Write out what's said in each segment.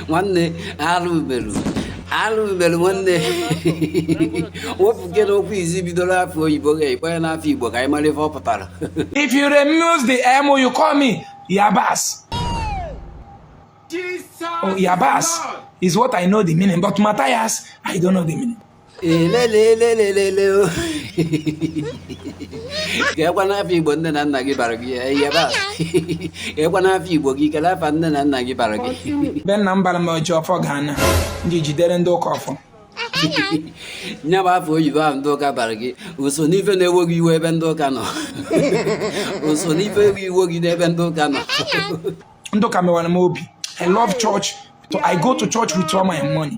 nwanne arụ ubelu arụ ubelu nwanne wepụke n'okwu izi bidoro afa oyibo gị kpọọ ya n'afa igbo ka anyị mara ife ọ pụtara If you remove the M, you call me Yabas. Oh, Yabas is what I know the meaning, but Matthias, I don't know the meaning. elelelelelele kekwanụ afa igbo nne na nna gị bara gị Yabas kekwanụ afa igbo gị kele afa nne na nna gị bara gị be nna m bara m oji ọfọ ga-ana ndị jidere ndị ụka ọfọ nya bụ afa oyibo ahụ ndị ụka bara gị o so n'ife na-ewo gị iwe ebe ndị ụka nọ o so n'ife iwe ewo gị n'ebe ndị ụka nọ ndị ụka mewara m obi i love church i go to church with all my money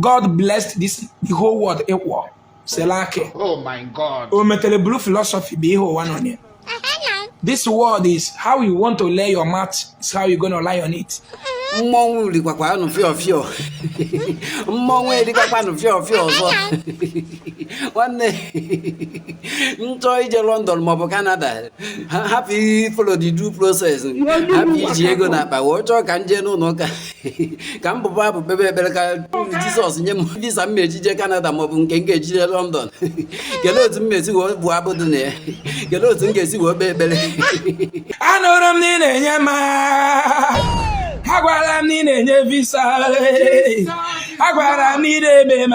God blessed this the whole world equal selaki oh my God o metere bulu philosophy bụ ihe ụwa nọ n'ime this world is how you want to lay your mat is how you gonna lie on it mmọnwụ rikwakwa anụ fịọ fịọ mmọnwụ erikwakwa anụ fịọ fịọ ọzọ nwanne m chọọ ije lọndọn maọbụ kanada hapụ ịfollow the due process hapụ iji ego n'akpa wee chọọ ka m jee n'ụlọ ụka ka m bụba abụ kpebe ekpere ka jizọs nye m visa m e-eji jee kanada maọbụ nke m ga-eji jee lọndọn kelee otu m e-esi wee bụ abụ dị na ya kelee otu m ga-esi wee kpee ekpere anụrụ m na ị na-enye m a gwara m na ị na-enye visa a gwara m na ị na-eme m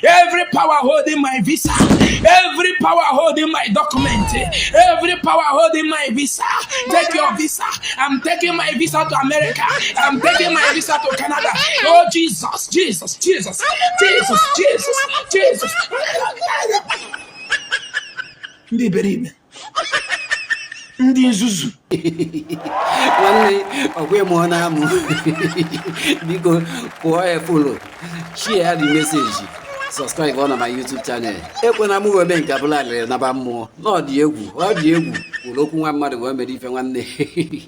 Every power holding my visa, every power holding my document, every power holding my visa, take your visa. I'm taking my visa to America. I'm taking my visa to Canada. Oh Jesus, Jesus, Jesus, Jesus, Jesus, Jesus. Ndị iberibe ndị nzuzu nwanne ọkwa ịmụ ọ na-amụ biko kụọ follow share the message subscribe on my YouTube channel ekwena m webe nke a bulu alịlị naba mmụọ na ọ dị egwu ọ dị egwu nụrụ okwu nwa mmadụ wee mere ife nwanne